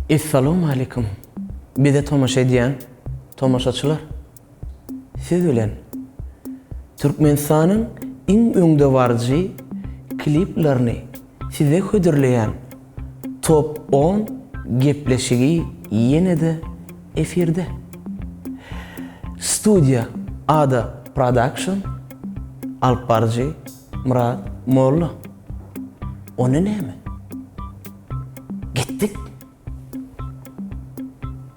Essalamu Aleýkum! Bize tomaşa edýän tomaşaçylar! Siz bilen Türkmenistanyň iň öňdebaryjy kliplerini Size hödürleýän Top on gepleşigi ýene-de efirde. Studiýa Ada Production, alyp baryjy Myrat Molla. Onda näme? Gitdik!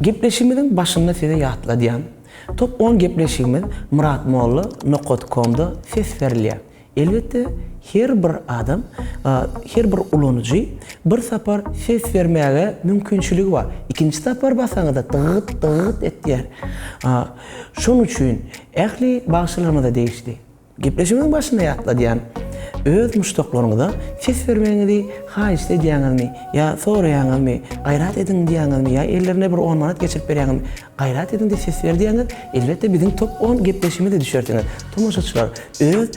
Gepleşigimiziň başynda size ýatladýan, top on gepleşigimiz Myrat Molla nokat komda ses berilýär. Elbetde her bir adam, her bir ulanyjy bir sapar ses bermäge mümkinçiligi bar. Ikinji sapar basaňyzda dygyt dygyt etýär. Şonuň üçin ähli bagşylarymyza degişli. Gepleşigiň başynda ýatladýan öz muşdaklaryňyza ses bermegiňizi haýyşt edýäňizmi ýa soraýaňyzmy, gaýrat ediň diýýäňizmi ýa ellerine bir on manat geçirip berýäňizmi, gaýrat ediň diýip ses ber diýseňiz, elbetde biziň top on gepleşigimize düşersiňiz. Tomaşaçylar, öz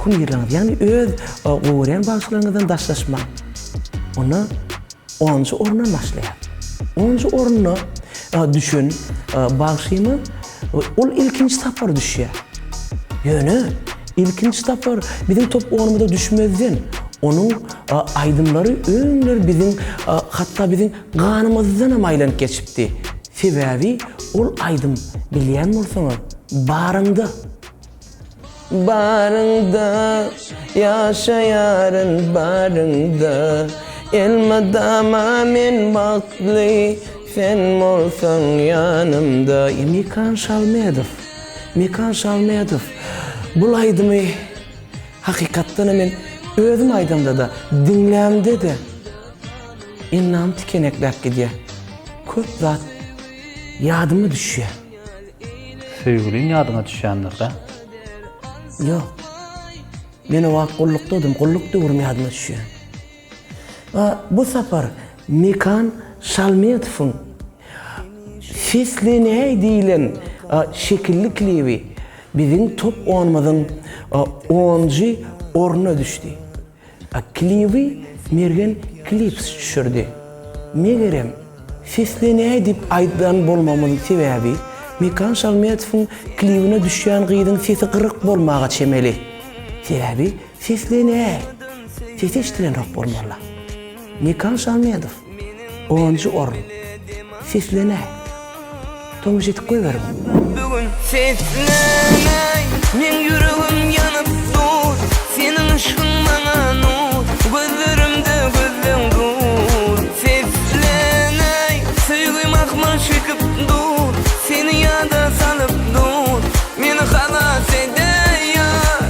kumyrlaryňyz ýagny öz gowy görýän bagşylaryňyzdan daşlaşmaň. Onda. Onunjy orna başlaýar. Onunjy orna düşen bagşymyz ol ilkinji tapgyr düşýär. Ýöne ilkinji tapgyr biziň top onumyza düşmezden onuň aýdymlary öňler biziň hatda biziň ganymyzdanam aýlanyp geçipdi. Sebäbi ol aýdym bilýän bolsaňyz, Baryňda. Baryňda ýaşaýaryn baryňda Elmydama men bagtly sen bolsaň ýanymda. Mekan Şalmedow Mekan Şalmedow bul aýdymy hakykatdanam men özüm aýdamda-da diňlämde-de ennam tikenekläp gidýär. Köp zat ýadyma düşýär. Söýgüliň ýadyňa düşýändirda? Ýok. Men o wagt gullukdadym, gulluk döwrüm ýadyma düşýär. A bu sapar Mekan Şalmetowyň Seslenäý diýlen şekilli klibi biziň top onumyzyň onunjy ornuna düşdi. Kliby Mergen Clips düşürdi. Megerem, seslenäý diýip aýdan bolmamyň sebäbi, Mekan Şalmetowyň klibine düşýän gyzyň sesi gyryk bolmaga çemeli. Sebäbi seslenäý. Sesi eşdilenok bolmaly. Mekan Şamedow, onjy orun. Seslenäý. Tomaşa edip goýberiň. Bugün seslenäý. Meň ýüregim ýanyp dur. Seniň yşkyň maňa nur. Gözlerimde gözleň dur. Seslenäý. Söýgi mahmal çekip dur. Seni ýada salyp dur. Meni halas edäý ýar.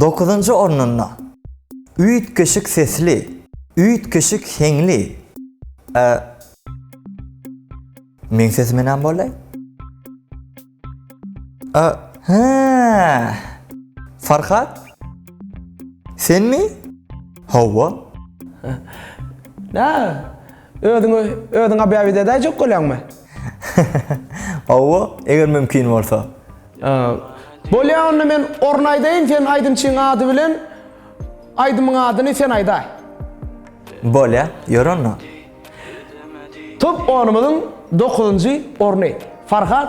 Dokuzynjy ornunda, üýtgeşik sesli, üýtgeşik heňli, e, Meň sesime näme boldy? A, hä! Farhat? Senmi? Hawa. Nä? Özüňi özüň obýawit edäýjek bolýaňmy? Hawa, eger mümkin bolsa. Bolýa onda men orny aýdaýyn sen aýdymçyň ady bilen aýdymyň adyny sen aýdaý. Bolýa, ýör onda. Top onumyzyň dokuzynjy orny. Farhat.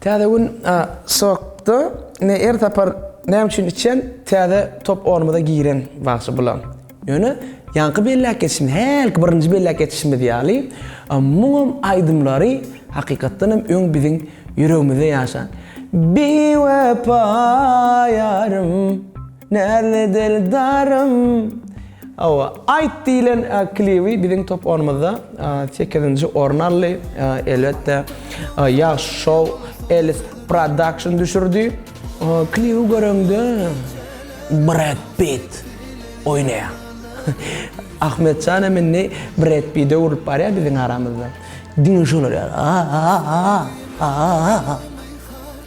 Täze gün sokda ne er tapar näme üçin içen täze top onumuza giren bagşy bula. Ýöne ýaňky belläp geçişimiz hälki birinji belläp geçişimiz ýaly muňam aýdymlary hakykatdan hem öň biziň ýüregimizde ýaşan Biwepa ýarym. Näzli dildarym Hawa, Aýt diýlen klibi biziň top onumyzda sekizinji orun aldy. Elbetde, Ýagşy Show, Elis Production düşürdi. Klibi göreňde Bred Pitt oýnaýar. Ahmetjan hem indi Bred Pide öwrülip barýar biziň aramyzda. Diňe şolar ýaly. A-a-a-a-a-a-a-a.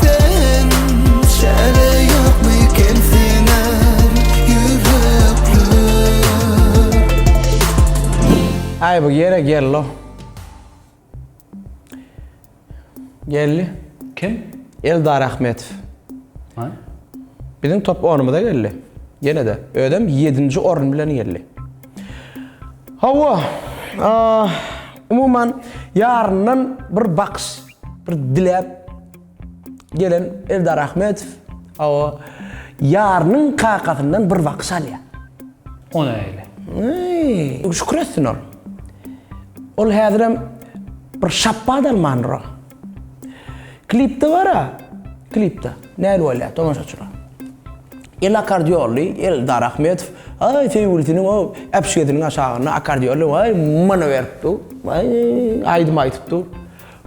Sen şähle ýokmiken siňer ýürekler. Aý bu ýere gello. Geldi. Kim? Eldar Ahmetow. Haý. Biziň top onumyza geldi. Ýene-de. Özem ýedinji orun bilen geldi. Hawa. Umuman ýaryndan bir bakyş. Bir diläp gelen Eldar Ahmetow o ýarynyň kakasyndan bir bakyş alýar. O näle? Eý, şükür etsin ol. Ol häzirem bir şapbat almandyr o. Klipde bar-a, klipde. Näl bolýar tomaşaçylar. El akkordeonly Eldar Ahmetow aý söýgülisiniň o äpişgesiniň aşagynda akkordeonly aý many berip dur. Aý aýdym aýdyp dur.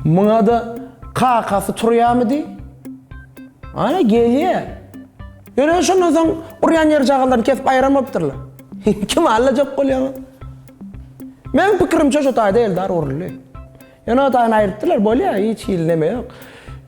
Muňada kakasy turýamydy? A, gelýä. Ýöne şondan soň urýan ýerjagazlaryny kesip aýyran bolupdyrlar. Kim allajak bolýaňyz? Meniň pikirimçe şo taýda Eldar uruldy. Ýöne o taýyny aýrypdyrlar, bolýa, hiç hili neme ýok.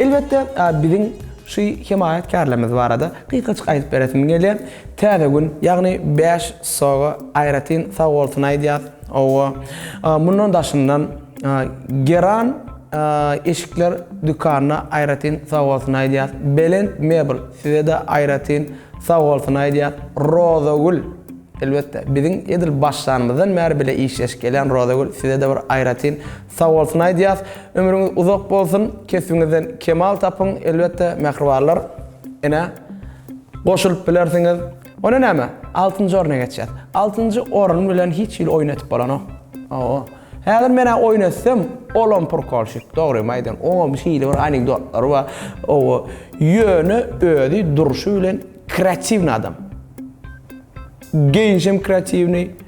Elbetde, biziň şu hemaýatkärlerimiz barada gysgaçyk aýdyp beresim gelýär. Täze gün, ýagny bäş soga aýratyn sag bolsun aýdýas. Owo, mundan daşyndan Geran eşikler dükanyna aýratyn sag bolsun aýdýas. Belent mebel, size-de aýratyn sag bolsun aýdýas. Rozagül, elbetde, biziň edil başlanymyzdan bäri bile işleşip gelýän Rozagül, size-de bir aýratyn Sag bolsun aýdýas. Ömrüňiz uzak bolsun. Kesbiňizden kemal tapyň. Elbetde mähribanlar ene goşulyp bilersiňiz. Onda näme? Altynjy orna geçýäs. Altynjy orun bilen hiç hili oýun etip bolanok. Hawa. Häzir men-ä oýun etsem, olam purkolşik. Dogrymy aýdýan. Oňam hili bir anekdotlary bar. Hawa. Ýöne özi durşy bilen kreatiwny adam. Geýinişem kreatiwnyý.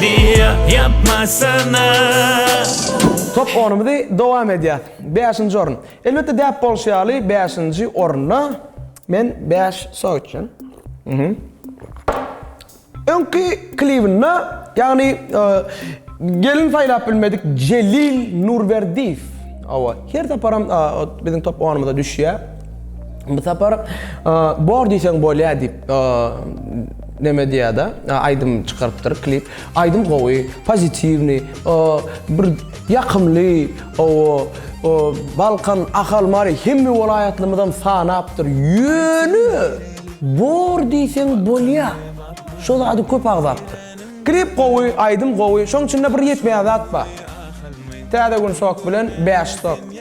Diýýä ýapmasana. Top onumyzy dowam edýäs. Bäşinji orun. Elbetde däp bolşy ýaly bäşinji orunda men bäş sok içýän. Öňki klibinde ýagny gelin saýlap bilmedik Jelil Nurberdiýew. Hawa, her saparam biziň top onumyza düşýär. Bu sapar bor diýseň bolýar diýip. Neme diýada aýdym çykarypdyr klip aýdym gowy pozitiwnyý bir ýakymly o balkan ahal mary hemme welaýatlymyzam sanapdyr ýöne bor diýseň bolýa şo zady köp agzapdyr klip gowy aýdym gowy şoň içinde bir ýetmeýän zat bar täze gün sok bilen bäş sok.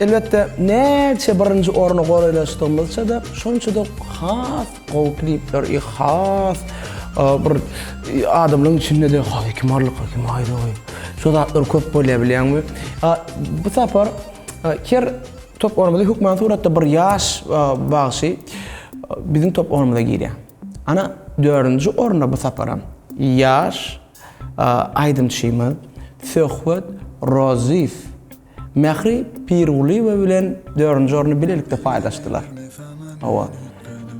Elbetde, näçe birinji orny goraýlaşdygymyzça-da, şonça-da has gowy klipler i has bir adamlaryň içinde-de haý kim barlyk haý kim aýry goý. Şo zatlar köp bolýar bilýäňmi. Bu sapar her top ornumyzda hökman suratda bir ýaş bagşy biziň top ornumyza girýär. Ana dördünji orunda bu saparam ýaş aýdymçymyz Söhbet Rozyýew Mähri Pirgulyýewa bilen dördünji orny bilelikde paýlaşdylar. Hawa,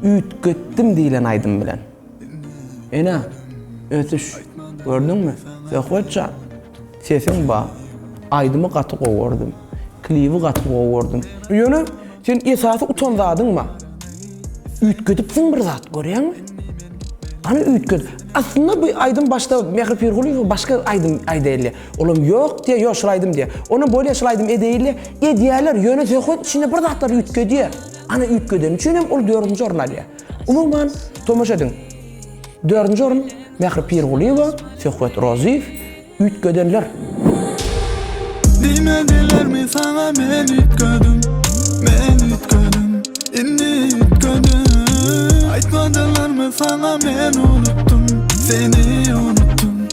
üýtgetdim diýlen aýdym bilen. Ene, ösüş, gördüňmi? Söhbet jan, sesiň bar. Aýdymy gaty gowy gördüm. Klibi gaty gowy gördüm. Ýöne, sen esasy utan zadyň bar. Üýtgedipsiň bir zat, görýäňmi? Hany üýtget. Aslynda bu aýdym başda Mähri Pirgulyýewa başga aýdym aýdaýylýar. Olam ýok diýýär, ýok şol aýdym diýýär. Onam bolýar şol aýdym edeýinle, edýärler, ýöne söhbet içinde bir zatlar üýtgedýär. Ana üýtgedeni üçin hem ol dördünji orun alýar. Umuman, tomaşa ediň, dördünji orun Mähri Pirgulyýewa, Söhbet Rozyýew, Üýtgedenler. Diýmedilermi saňa men üýtgedim, men üýtgedim, indi üýtgedim. Aýtmadylarmy saňa men unutdym, seni unutdym.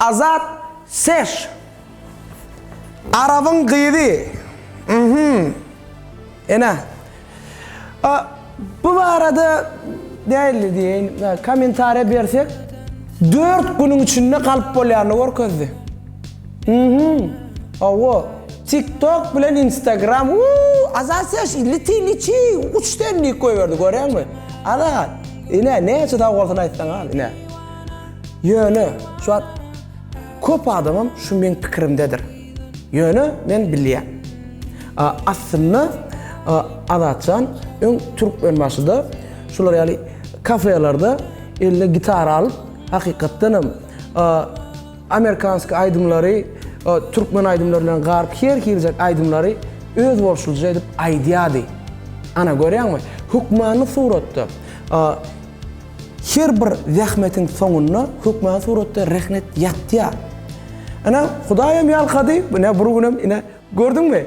Azat Sesh Arabyň gyzy uhmm ene bu barada nähili diýeýin kommentariýa bersek dört günüň içinde galyp bolýanyny görkezdi uhmm hawa tik tok bilen instagram uuu Azat Sesh liti liti uç ten diýip goýberdi görýäňmi Azat. Ine näçe sag bolsun aýtsaňam ine. Ýöne şu wagt köp adamam şu meň pikirimdedir. Ýöne men bilýän. Aslynda Azatjan öň Türkmenbaşyda şular ýaly kafelerde eline gitara alyp hakykatdanam Amerikanski aýdymlary türkmen aýdymlary bilen garyp her hiljek aýdymlary öz bolşulyja edip aýdýardy. Ana görýäňmi? Hökmany suratda her bir zähmetiň soňunda hökmany suratda rehnet ýatýar. Ine Hudaýam ýalkady, ine bir günem ine gördüňmi?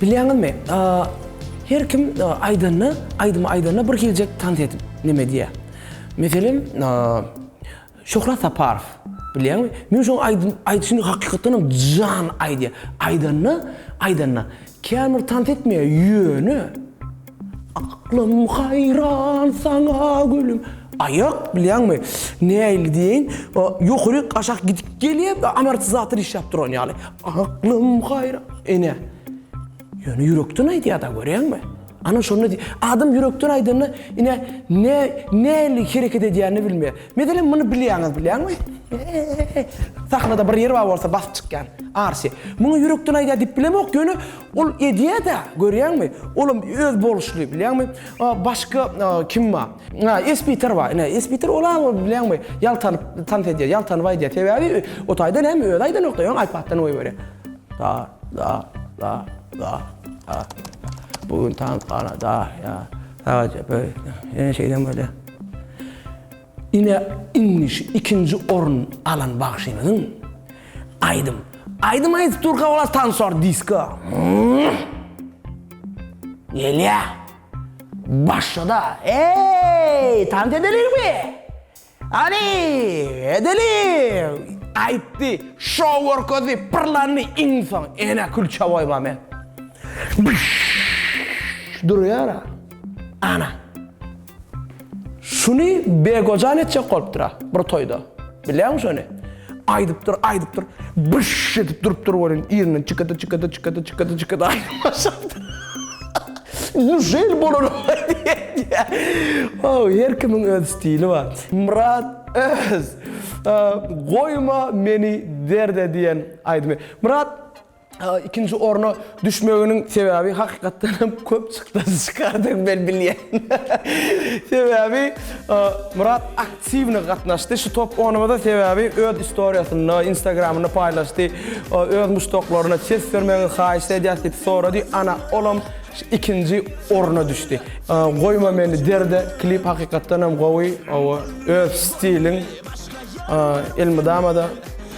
Bilýäňizmi, her kim aýdanda, aýdym aýdanda bir hiljek tans edip neme diýýär. Meselem, Şöhrat Saparow, bilýäňmi? Men şoň aýdym aýdyşyny hakykatdan hem jan aýdýar. Aýdanda, aýdanda kän bir tans etmeýär, ýöne. Aklym haýran saňa gülüm. Aýak bilýäňmi nähili diýeýin ýokary aşak gidip gelýär amortizator işläp duran ýaly. Aklym haýra ene. Ýöne ýürekden aýdýada görýäňmi. Ana şonda diý adam ýürekden aýdanda ine ne nähili hereket edýänini bilmeýär. Meselem muny bilýäňiz bilýäňmi. Sahnada bir ýer bar bolsa basyp çykýan. Arşi. Muňa ýürekden aýdýar diýip bilemok ýöne Ol edýä-dä, görýäňmi? Olam öz boluşly, bilýäňmi? A, başga a, kim bar? A, Espiter bar. Ine, Espiter ol-a, ol bilýäňmi, ýaltanyp tans edýär, ýaltanyp aýdýar. Sebäbi o taýda näme, özi aýdanok-da, ýöne iPad-dan goýberýär. Da, da, da, da, da. Bu gün tans gala, da, ýa. Sagaja, böý. Ýene şeýdem bolýar. Ine indi şu ikinji orun alan bagşymyzyň aýdym aýdym aýdyp durka olar tansor disko gelýä başlada eý tans edelikmi hany edelik aýtdy şou görkezdi pyrlandy iň soň ene külçe boýba men durýara ana. Şuny Begojan etjek bolupdyr-a, bir toýda. Bilýäňmi şony? Aýdypdyr, aýdypdyr, byş edip durupdyr welin, ýerinden çykady, çykady, çykady, çykady, çykady, aýdyp başlapdyr. Indi şeýle bolanok diýýä. Ow, her kimiň öz stili bar. Myrat Öz, Goýma meni derde diýen aýdymy. Myrat. ikinji orna düşmeginiň sebäbi hakykatdan hem köp çykdajy çykardygyny men bilýän. Sebäbi Myrat aktiwny gatnaşdy şu top onumyza sebäbi öz istoriýasynda, instagramynda paýlaşdy. Öz muşdaklaryna ses bermegiňizi haýyş edýäs diýip sorady. Ana, olam ikinji orna düşdi. Goýma meni derde klip hakykatdan hem gowy. Öz stiliň elmydama-da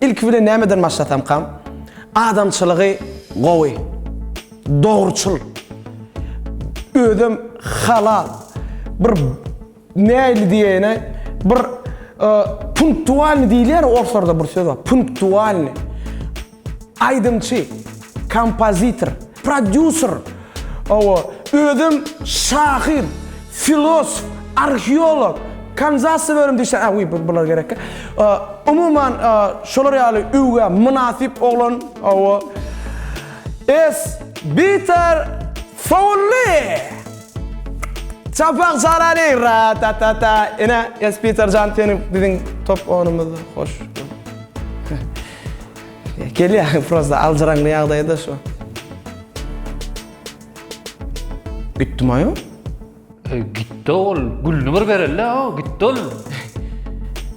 Ilki bilen nämeden başlasamkam? Adamçylygy gowy. Dogruçyl. Özem halal. Bir näli diýäýine bir punktualny diýilýär orslarda bir söz bar. Punktualny. Aýdymçy, kompozitor. Prodýuser, Hawa, özem şahyr, filosf, arheolog, kanzasowerim diýseň, a, wiý, bular gerekkä. Umuman, şolar ýaly öwgä mynasyp oglan, hawa. S. Biter Fowlli! Çapak çalaly! Ra-ta-ta-ta! Ine, S. Biter jan, seniň, biziň top ownumyzda. Hoş. Gelýär prosta aljyraňly ýagdaýda şu. Gitdim aýo. E, gitdi ol. Gülni bir bereli ha, gitdi ol.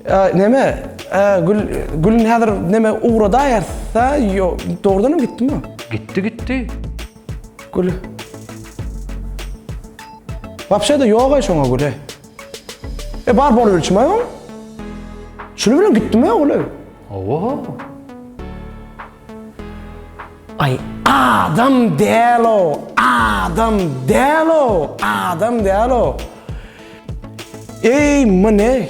E, neme? E, gül gülni häzir neme ugrada ýarsa, yo, dogrudan hem gitdimi? Gitdi, gitdi. Gül. Wapşe de ýok aý şoňa güle. E bar bolup ölçme aýo. Şuny bilen gitdimi ogle? Owoh! Aý adam däl o, adam däl o, adam däl o. Eý mine.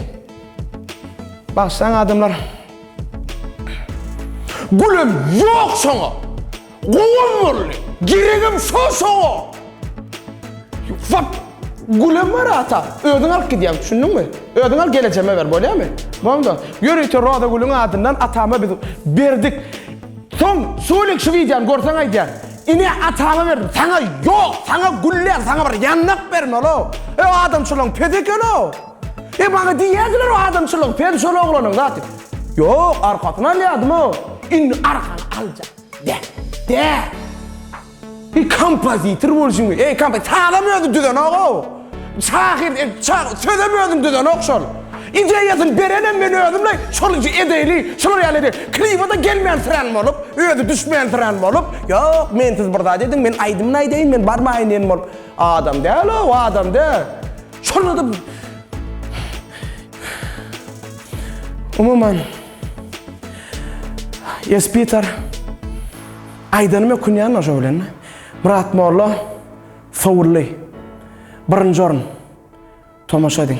Bagşlaň adamlar. Gülüm ýok şoňa. Gowam boldy. Geregem şol şoňa. Wap! Gülem bar ata. Özüň alyp gidýäň, düşündiňmi? Özüň al gelejeme ber, bolýamy? Boldum. Ýör öýte Roza gülüň adyndan atama biz berdik. Soň Sulik şu wideony görseň aýdýar. Ine atama berdim. Saňa ýok, saňa güller, saňa bir ýandak bermeli-o. E o adamçylygyň pes ekeni-o. E maňa diýýärdiler o adamçylygyň pes şol oglanyň zat. Ýok, arkasyny alýardym-o. Indi arkany aljak. Dä, dä! Bir kompozitor bolşuň, ey kompozitor, sazam özü düzenok-ow. Şahyr, e, şa- sözem özüm düzenok şol. Ideýasyny berenem men özümle, şol edeýli, şular ýaly edip, kliba-da gelmänsirän bolup, özi düşmänsirän bolup, ýok, men siz bir zat ediň, men aýdymyny aýdaýyn, men barmaýyn diýen bolup. Adam däl-ow, adam däl. Şonda-da Umuman, Esbitar aýdanymy ökünýän oşo bilen. Myrat molla sowuldy. Birinji orun. Tomaşa ediň.